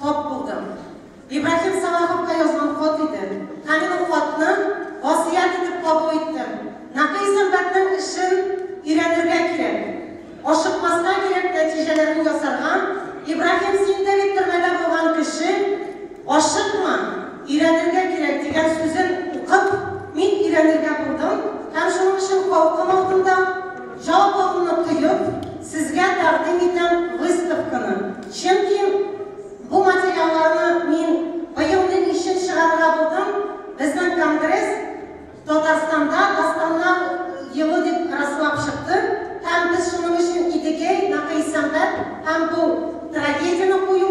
Тап булдым. Ибраһим Салаховка язган хат иде. Һәм мин ул хатны васыять итеп кабул иттем. Нәкый сәнбатьнең эшен өйрәнергә кирәк. Ашыкмаска кирәк нәтиҗәләрен ясарга. Ибраһим, син дә бит төрмәдә булган кеше, ашыкма, өйрәнергә кирәк, дигән сүзен укып, мин өйрәнергә булдым һәм шуның өчен халкым алдында, Жалпы моны тоеп, сезгә тәкъдим итәм выставканы, чөнки бу материалларны мин быел ни өчен чыгарырга булдым, безнең конгресс Татарстанда дастаннар елы дип раслап чыкты һәм без шуның өчен Идегәй, Нәкый Сәмгать һәм бу трагедияне кую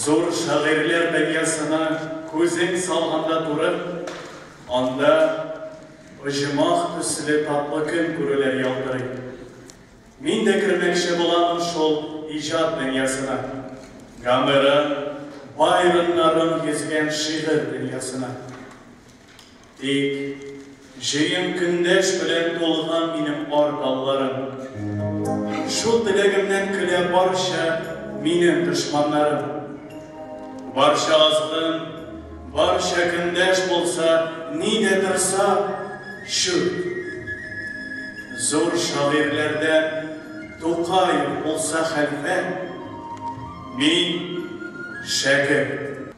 Зур шагыйрьләр дөньясына күзең салганда турып, анда оҗмах төсле татлы көн күрүләр ялтырый. Мин дә кермәкче буламын шул иҗат дөньясына, Гомерем, Байроннарым йөзгән шигырь дөньясына. Тик җыем көндәш белән тулган минем ар далларым, Шул теләгемнән көлә барча минем дошманнарым. Барча азгын, барча көндәш булса, ни дә торса, чүп. Зур шагыйрьләрдән Тукай булса хәлфә, мин, шәкерт.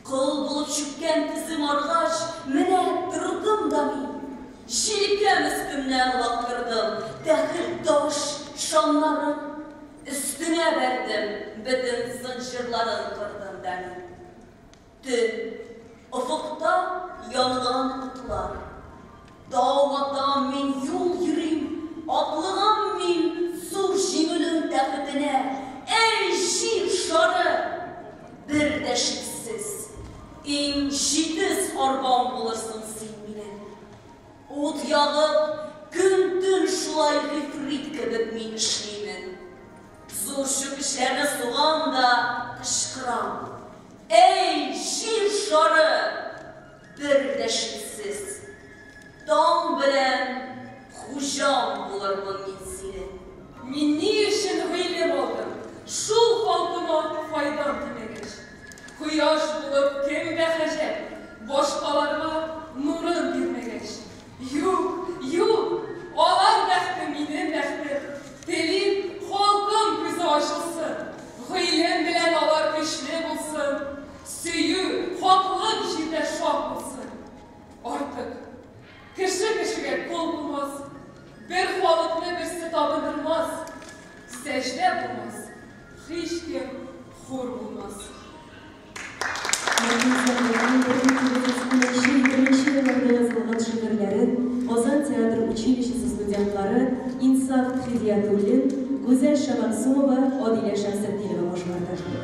Кол булып чүккән тезем аргач, менә тордым да мин. Җилкәм өстемнән лактырдым, тәхет, таш, шамнарым. Өстеңә бәрдем бөтен зынҗирларын кырдым бәни. Төн, офыкта янган утлар. Тау атам мин, юл йөрим, атлыгам мин зур җиңүнең тәхетенә, Әй, җир шары! Бер дә шиксез, иң җитез арбам булырсың син минем. Ут ягып, көн-төн шулай гыйфрит кебек мин эшлимен. Зур чүкечләрне сугам да кычкырам, Әй, җир шары! Бер дә шиксез, таң белән хуҗаң булырмын мин синең! Мин ни өчен гыйлем алдым? Шул алтын файдан тимәгәч. Кояш булып кемгә хаҗәт? Башкаларга нурын бирмәгәч. Юк, юк! Алар бәхте, минем бәхтем. Телим, халкым күзе ачылсын. Гыйлем белән алар көчле булсын. Сөю, хаклык җирдә шат булсын. Артык. Кеше кешегә кол булмас. Бер халыкны берсе табындырмас. Сәҗдә булмас. Һичкем хур булмас. Мәрхүм Сәмиянең бөтен тирәсенә чын беренче елларда язылган шигырьләрен Казан театр училищесы студентлары Инсаф Хидиятуллин, Гүзәл Шәмәгъсумова, Адилә Шәмсетдинова башкарды.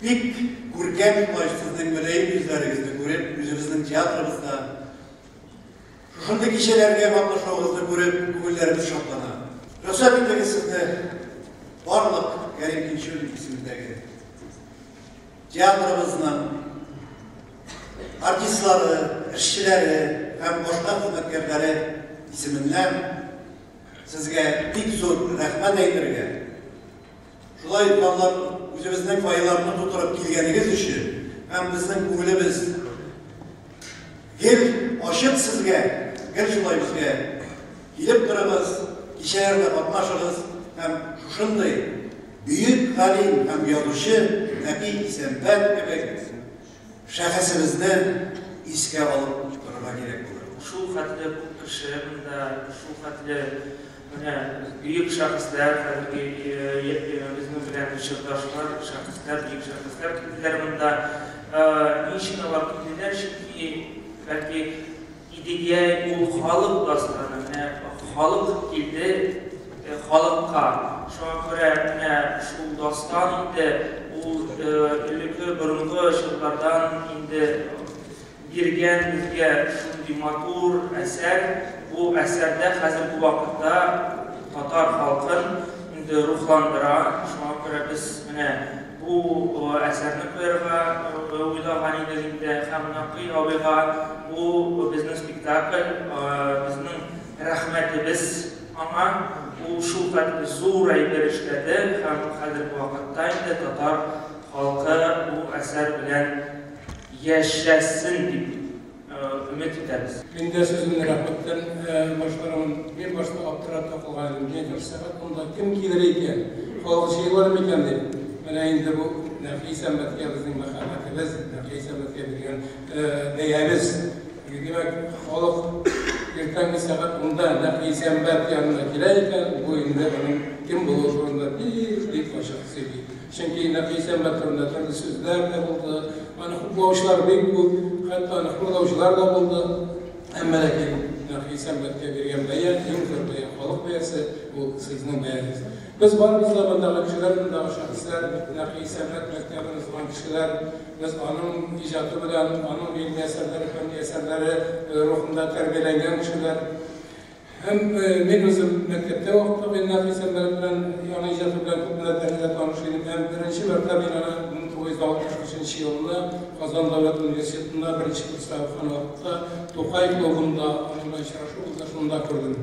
Бик күркәм имаш сезнең мөлаем йөзләрегезне күреп, үзебезнең театрыбызда шушындый кичәләргә катнашуыгызны күреп, күңелләребез шатлана. Рөхсәт итегез сезне барлык Кәрим Тинчурин исемендәге театрыбызның артистлары, эшчеләре һәм башка хезмәткәрләре исеменнән сезгә бик зур рәхмәт әйтергә Шулай укланып, үзебезнең файларны тутырып килгәнегез өчен һәм безнең күңелебез гел ачык сезгә, гел шулай безгә килеп торыгыз, кичәләрдә катнашыгыз һәм шушындый бөек галим һәм язучы Нәби Исәнбәт кебек Шәхесебезне искә алып утырырга кирәк булыр. Шул хәтле күп кеше монда, шул хәтле менә бөек шәхесләр, хәзерге безнең белән чордашлар, шәхесләр, бөек шәхесләр килделәр монда. Ни өчен алар килделәр? Чөнки, бәлки, Идегәй ул халык басканы, менә халык килде халыкка, шуңа күрә менә шул дастан инде ул элеке борынгы чорлардан инде биргән безгә шундый матур әсәр, бу әсәрдә хәзерге вакытта татар халкын инде рухландыра, шуңа күрә без менә Бу әсәрне куярга уйлаган идек инде һәм Нәкый абыйга бу безнең спектакль, безнең рәхмәтебез аңа. Ул шулкадәр зур әйбер эшләде һәм хәзерге вакытта инде татар халкы бу әсәр белән яшәсен дип. Өмет итәбез. Мин дә сүземне рәхмәттән башлармын. Мин башта аптырап та калган идем, нигә бер сәгать монда кем килер икән, халык җыелыр микән дип. Менә инде бу Нәфис Әмәткә безнең мәхәббәтебез, Нәфис Әмәткә биргән бәябез. Димәк, халык иртәнге сәгать унда Нәфис Әмәт янына килә икән, бу инде аның кем булуы турында бик-бик ачык сөйли. Чөнки Нәфисә мәктәбендә төрле сүзләр дә булды, аны хуплаучылар бик күп, хәтта аны хурлаучылар да булды. Әмма ләкин Нәфисә мәктәбе биргән бәя, иң зур бәя, халык бәясе, ул сезнең бәягез. Без барыбыз да мондагы кешеләр, мондагы шәхесләр, Нәфисә мәктәбен узган кешеләр. Без аның иҗаты белән, аның гыйльми әсәрләре, фәнни әсәрләре рухында тәрбияләнгән кешеләр. Һәм мин үзем мәктәптә вакытлы Гөлназ Исәнбәлов белән, аның иҗаты белән күп мәртәбә таныш идем. Һәм беренче мәртәбә мин аны 1963 елны Казан дәүләт университетында беренче курста укыган вакытта Тукай клубында аның белән очрашу булды, шунда күрдем.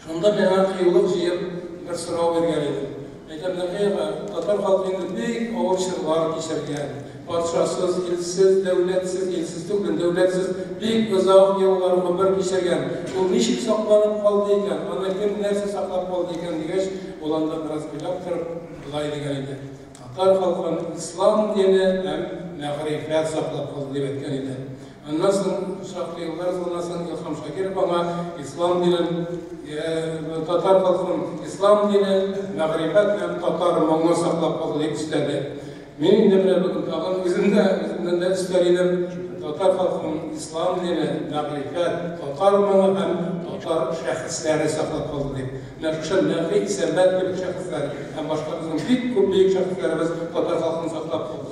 Шунда миңа кыюлык җыеп бер сорау биргән идем. Әйдә, Нәкыева, татар халкы инде бик авыр чорлар кичергән. Патшасыз, илсез, дәүләтсез, илсез түгел, дәүләтсез бик озак еллар гомер кичергән. Ул ничек сакланып калды икән, аны кем, нәрсә саклап калды икән, дигәч, ул анда бераз уйлап торып, болай дигән иде, Татар халкын ислам дине һәм мәгърифәт саклап калды, дип әйткән иде. Аннан соң шактый еллар узганнан соң Илһам Шакиров аңа ислам динен, татар халкының ислам дине, мәгърифәт һәм татар моңын саклап калды дип өстәде. Мин инде менә бүген тагын үзем дә үземнән дә өстәр идем, татар халкының ислам дине, мәгърифәт, татар моңы һәм татар шәхесләре саклап калды дип. Менә шушы Нәфи Исәнбәт кебек шәхесләр һәм башка безнең бик күп бөек шәхесләребез татар халкын саклап калды.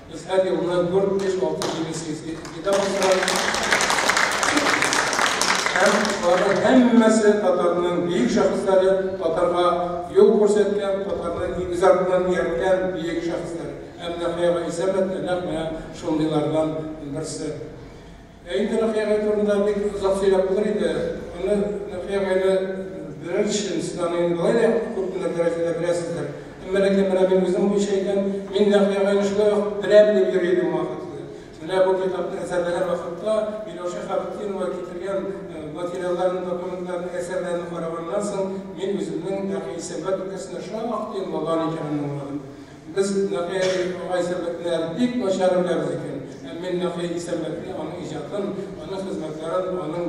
Без һәр елны дүрт, биш, алты, җиде сессия итә башладык. Һәм аларның һәммәсе татарның бөек шәхесләре, татарга юл күрсәткән, татарны нигез артыннан иярткән бөек шәхесләр. Һәм Нәхияга Исәмәт нәкъ менә шундыйлардан берсе. Ә инде Нөхия агай турында бик озак сөйләп булыр иде. Моны Нөхия агайны берәр чынстан инде болай да күп кенә дәрәҗәдә беләсездер. Әмма ләкин менә мин үзем буенча әйтәм, мин Нөхия агайны шулай ук беләм дип йөри идем вакытлы. Менә бу китапны әзерләгән вакытта Миләүшә Хәбтинова китергән материалларны, документларны, әсәрләрне караганнан соң, мин үземнең Нөхия Исәнбәт өлкәсендә шактый муллан икәнен аңладым. Без Нәкый әбинең аңа исәнләтмәләрен бик начар беләбез икән. Һәм мин Нәкый Исәнбәтне, аның иҗатын, аның хезмәтләрен, аның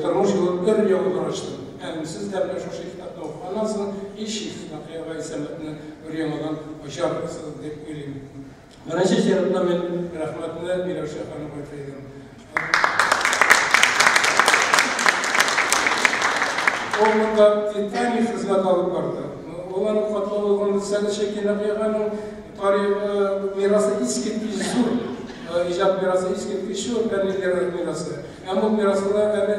тормыш юлын өр-яңа караштым. Һәм сез дә менә шушы китапны укыганнан соң, һичшиксез, Нәкый абай Исәнбәтне өр-яңадан ачарсыз дип уйлыйм. Беренче чиратта мин рәхмәтне Миләүшә ханымга әйтер идем. Ул монда титаник хезмәт алып барды. Ул аның катлаулыгын сәләшә кинәгыяның тарихы, мирасы искиткеч зур. Иҗат мирасы искиткеч зур, фәнни мирасы. Һәм ул мирасына әле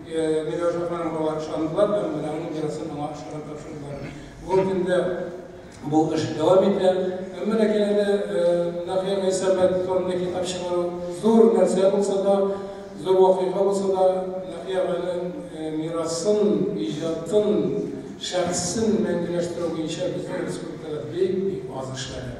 Миләүшә ханым бала ышандылар һәм Миләүнең мирасын аңа ышанып тапшырдылар. Бүгенге көндә бу эш дәвам итә. Әмма ләкин әле Нәхия Гайсәмәт турында китап чыгару зур нәрсә булса да, зур вакыйга булса да, Нәхия апаның мирасын, иҗатын, шәхесен мәңгеләштерү буенча безнең республикада бик-бик аз эшләнә.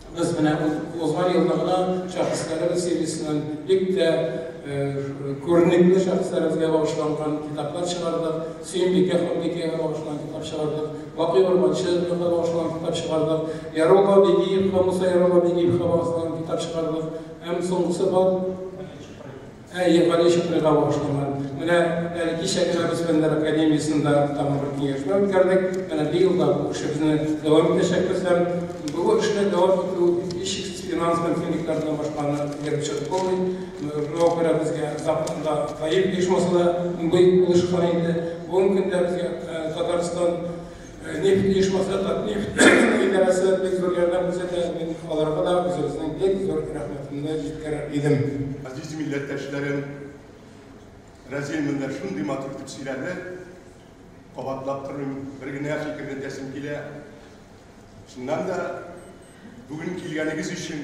Без менә узган елны гына шәхесләребез сериясеннән бик тә күренекле шәхесләребезгә багышланган китаплар чыгардык. Сөембикә ханбикәгә багышланган китап чыгардык. Бакый Урманчы багышланган китап чыгардык. Ярулла Бигиевка, Муса Ярулла Бигиевка багышланган китап чыгардык. Һәм соңгысы бар. Әйе, Галиҗеп туйга багышланган. Менә әле кичә генә без Фәннәр академиясендә тагын бер киңәшмә үткәрдек. Менә быел да бу эшебезне дәвам итәчәкбез һәм бу эшне дәвам итү һичшиксез финанс мөмкинлекләр белән башканы биреп чыгып булмый. Шуңа күрә безгә законда гаилә оешмасы да бик булышкан иде. Бүгенге көндә безгә Татарстан Нефть оешмасы Татнефть идарәсе бик зур ярдәм күрсәтә. Мин аларга да үзебезнең бик зур рәхмәтемне җиткерер идем. Азиз милләттәшләрем, Разил монда шундый матур итеп сөйләде. Кабатлап тормыйм, бер генә фикерне әйтәсем килә. Чыннан да, бүген килгәнегез өчен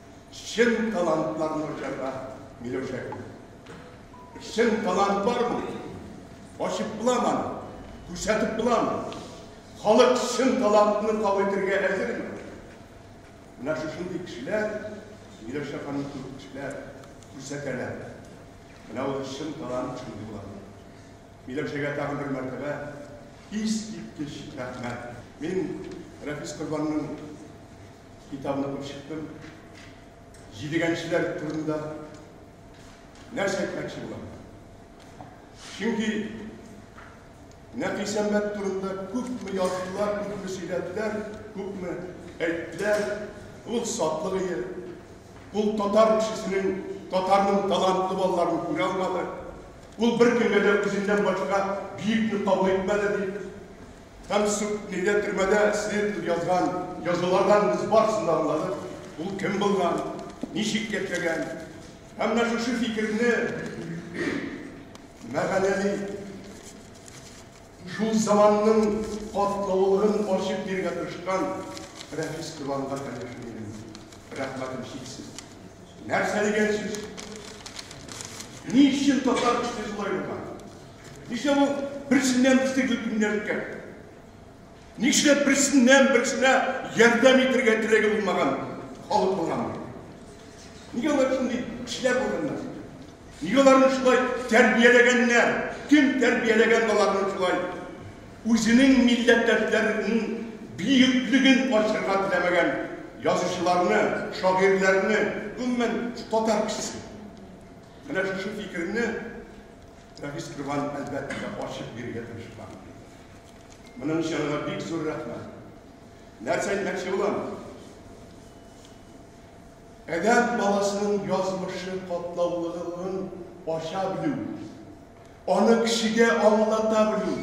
Чын талант бар мы җырда, Миләүшә гөлем? Чын талант бар мы? Ачып була маны? Күрсәтеп була мы? Халык чын талантны кабул итәргә әзерме? Менә шушындый кешеләр, Миләүшә ханым кебек кешеләр күрсәтәләр. Менә ул чын талант шундый була. Миләүшәгә тагын бер мәртәбә искиткеч рәхмәт. Мин Рәфис Корбанның Китабын укып чыктым. Җидегәнчеләр турында нәрсә әйтмәкче булам? Чөнки Нәфисәмәт турында күпме яздылар, күпме сөйләделәр, күпме әйттеләр. Ул сатлык ие. Ул татар кешесенең, татарның талантлы балаларын күрә алмады. Ул бер кемгә дә үзеннән башка биекне кабул итмәде, дип Һәм суд нигә төрмәдә эшли дип язган язулардан без барысын да аңладык. Ул кем булган, ничек яшәгән. Һәм менә шушы фикерне мәгънәли, шул заманның катлаулыгын ачып бирергә тырышкан Рәфис Туганга, конечно, минем рәхмәтем чиксез. Нәрсә дигән сүз? Ни өчен татар эшли шулай булган? Ничә бу берсеннән берсе гөбиннәркә? Ничә берсеннән берсенә ярдәм итергә теләге булмаган халык булган? Нигә алар шундый кешеләр булганнар? Нигә аларны шулай тәрбияләгәннәр? Кем тәрбияләгән аларны шулай? Үзенең милләттәшләренең биеклеген ачырга теләмәгән язучыларны, шагыйрьләрне, гомумән, татар кешесен. Менә шушы фикерне Рәфис Крван, әлбәттә, ачык бирергә тырышкан. Моның өчен аңа бик зур рәхмәт. Нәрсә әйтмәкче булам? Әдәп баласының язмышы катлаулылыгын ача белү, аны кешегә аңлата белү,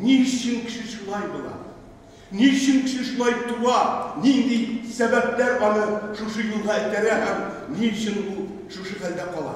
ни өчен кеше шулай була, ни өчен кеше шулай туа, нинди сәбәпләр аны шушы юлга этәрә һәм ни өчен ул шушы хәлдә кала.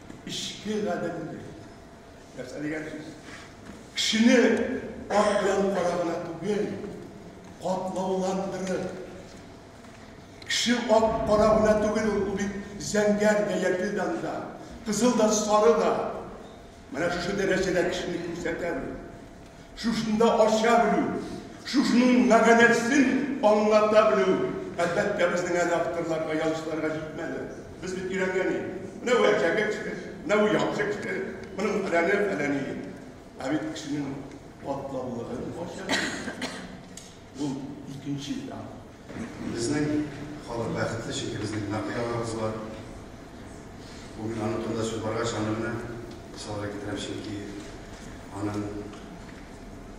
Эчке гаделлек. Нәрсә дигән сүз? Кешене ат белән кара гына түгел, катлауландырып. Кеше ат кара гына түгел, ул бит зәңгәр дә, яшелдан да, кызыл да, сары да. Менә шушы дәрәҗәдә кешене күрсәтәме? шушында ача белү, шушының мәгънәсен аңлата белү, әлбәттә, безнең әле авторларга, язучыларга җитмәде. Без бит өйрәнгәни. Менә бу әчәге кеше, менә бу яхшы кеше, моның фәләне, фәләни. Ә бит кешенең катлаулыгын ача. Бу икенче этап. Безнең халык бәхетле, чөнки безнең Нәкый агабыз бар. Бүген аның турында сүз баргач, аны менә мисалга китерәм, чөнки аның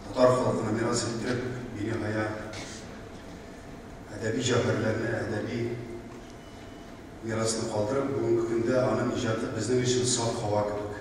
татар халкына мирас иттереп, биниһая әдәби җәүһәрләрне, әдәби мирасны калдырып, бүгенге көндә аның иҗаты безнең өчен саф һава кебек.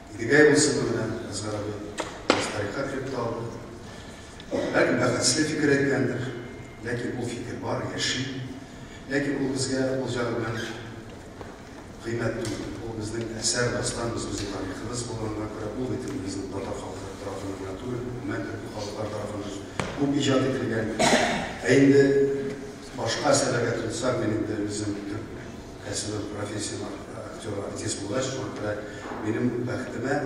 Идегәй булсын белән Әсгар абый без тарихка кереп тә алды. Бәлки бәхәсле фикер әйткәндер, ләкин ул фикер бар, яши. Ләкин ул безгә ул җагы белән кыйммәт түгел. Ул безнең әсәр, дастан, без үзен тарихыбыз булганга күрә, ул бит инде безнең татар халкы тарафыннан гына түгел, гомумән төрле халыклар тарафыннан күп иҗат ителгән. Ә инде башка әсәрләргә тотсак, мин инде үзем Әсиров профессиям актеры, артист булгач, шуңа күрә минем бәхетемә,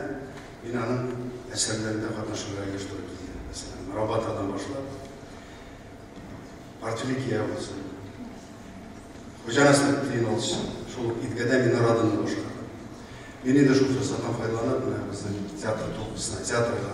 мин аның әсәрләрендә катнашырга еш туры килде. Мәсәлән, Рабатадан башлап, Партюлек ия булсын, Хуҗа Насретдин алсын, шул ук Идгәдә Минорадын да башкардым. Мин инде шул форсаттан файдаланып, менә безнең театр труппасына, театрга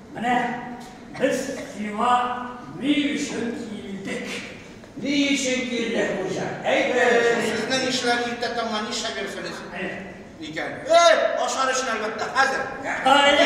Менә без сиңа ни өчен килдек. Ни өчен килдек, хуҗа? Әйтегез. Сезнең эшләр иртә таңнан нишләгәнсенез икән? Эх, ашар өчен, әлбәттә, хәзер. Кайлы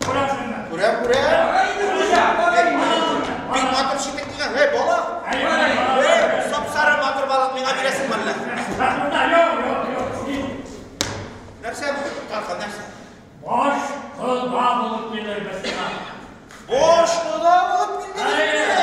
Күрәм, күрәм. Бик матур шикет кигән. Һәй, бала. Сап-сары матур балык миңа бирәсең мәллә? Нәрсә бу? Тархан нәрсә? Баш кода булып килер без сиңа. Баш кода булып килдегезме?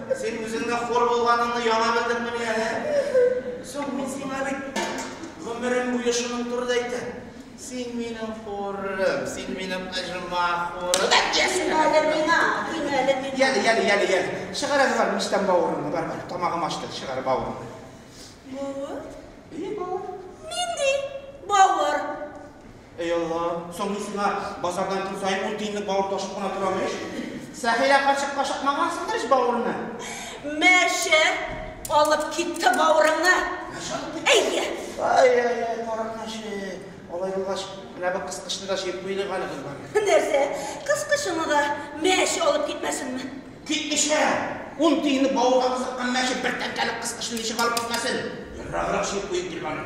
Син үзең дә хор булганыңны яңа белдеңмени әле? Соң мин сиңа бит гомерем буе шуның турыда әйтәм. Син минем хурым, син минем оҗма хурым. Син әле миңа, син әле миңа. Яли, яли, яли, яли. Чыгар әле бар мичтән бавырыңны, бар, бар. Тамагым ачты, чыгар бавырыңны. Бавыр? И, бавыр. Нинди бавыр? Әй Алла, соң мин сиңа базардан көн саен ун тиенлек бавыр ташып кына торам ич. Сәхирә карчыкка ашатмагансыңдыр ич бавырны? Мә чә, алып китте бавырыңны. Мә чә алып китте? Әйе. Ай-яй-яй, карак мәче. Алай булгач, менә бу кыскычны да җыеп куелыйк әле, кызлар. Нәрсә, кыскычыңны да мә чә алып китмәсенме? Китмичә! Ун тиенлек бавырга кызыккан мә чә бер тәңкәлек кыскычны ничек алып китмәсен? Ераграк җыеп куйыйк, гөлбану.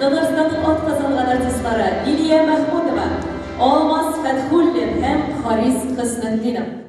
Татарстанның атказанган артистлары Лилия Мәхмүтова, Алмаз Фәтхуллин һәм Харис Хөснетдинов.